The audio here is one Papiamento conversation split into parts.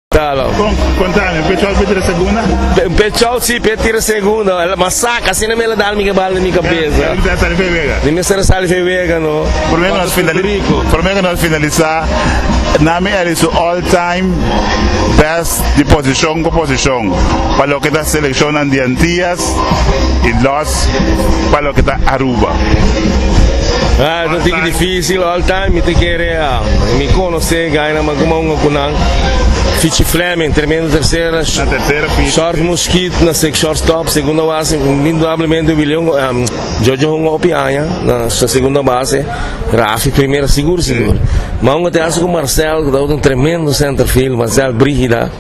Talo. Con, contame, pe chau pe tira segunda? Pe, pe chau si pe tira segunda, el ma saca, así no me la da mi bal na mi cabeza. Él está saliendo vega. Ni me está saliendo vega, no. Por menos nos finaliza, por menos nos finaliza, nami él hizo all time best de posición con posición, pa lo que ta seleccionnan de Antillas y los pa lo que ta Aruba. Ah, no te difícil all time, mi te quiere, mi cono. José Gainam a kuma un ocunan. Fichi Fleming, tremendo tercera. Short Muschit na sec shortstop, segunda base, indudablemente Willion, Jojo hunga hopi aña na segunda base, Rafi primera sigur sigur. Ma un hopi haci cu Marcel cu tabata un tremendo centerfield, Marcel Brigida.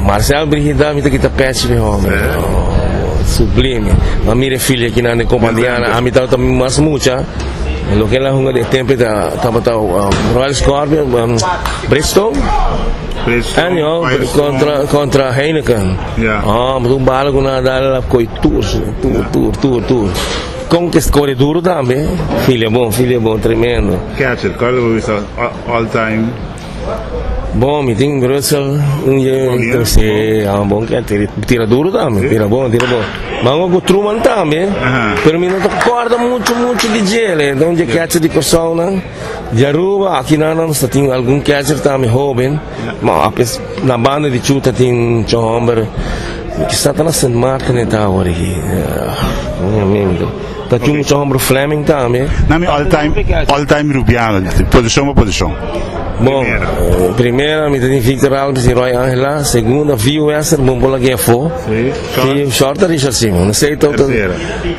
Marcel Brigida mi ta kita pech mi hombre oh sublime ma mira e filia kinan den Companiana ami tabata mas mucha loke nan hunga den e tempo eta tabata Royal Scorpion Bristol anyhow contra contra Heineken oh un bala cu nan a dal el a coy tur su tur tur tur tur con ki score duro tambe filia bon filia bon tremendo catcher cual lo wisa all time Bon mi tin Brussel un ye si bon ke tira tira duro tambe tira bon tira bon mango ku Truman tambe pero mi no ta korda muchu muchu di djele enton dje keche di Kòrsou nan di Aruba aki nan nan sa tin algun keche tambe hoben ma apes na banda di Ciu ta tin cho hòmber kisa ta na Sint Maarten e ta awor aki. Ta cu mucha homber Fleming tambe. Na mi all time, all time Rubiano, position pa position. Bon, eh, primera mi ta tin Victor Alves y Roy Angela, segunda Vio Wester, bon bola que fo. Sí, y short Richard Simon. No sé tot. Tercera.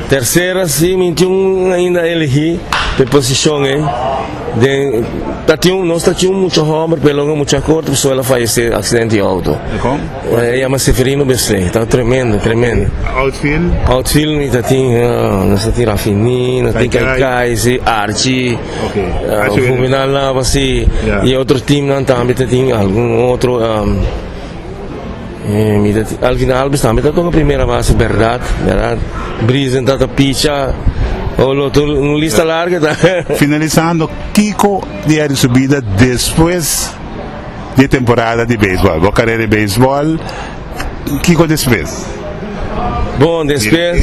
Tercera sí, mi tin ainda elegí pe position eh. Den ta tin, nos ta tin mucha homber, pero mucha corto, suela fallece accidente auto. E yama Seferino Besle, ta tremendo, tremendo. Outfield? Outfield mi ta tin, nos ta tin Rafiní, nos tin Kai Kai, si, Archi, Juvenal Nava, si, i otro teamnan tambe ta tin algun otro, mi ta tin, Alvin Alves tambe ta toka primera base, berdad, berdad, Brisen ta ta picha, oh, lo tur, un lista larga ta. Finalisando, kiko di Arisubida despues. di e temporada di beisbòl. Bo karera di beisbòl, kiko despues? Bon, despues.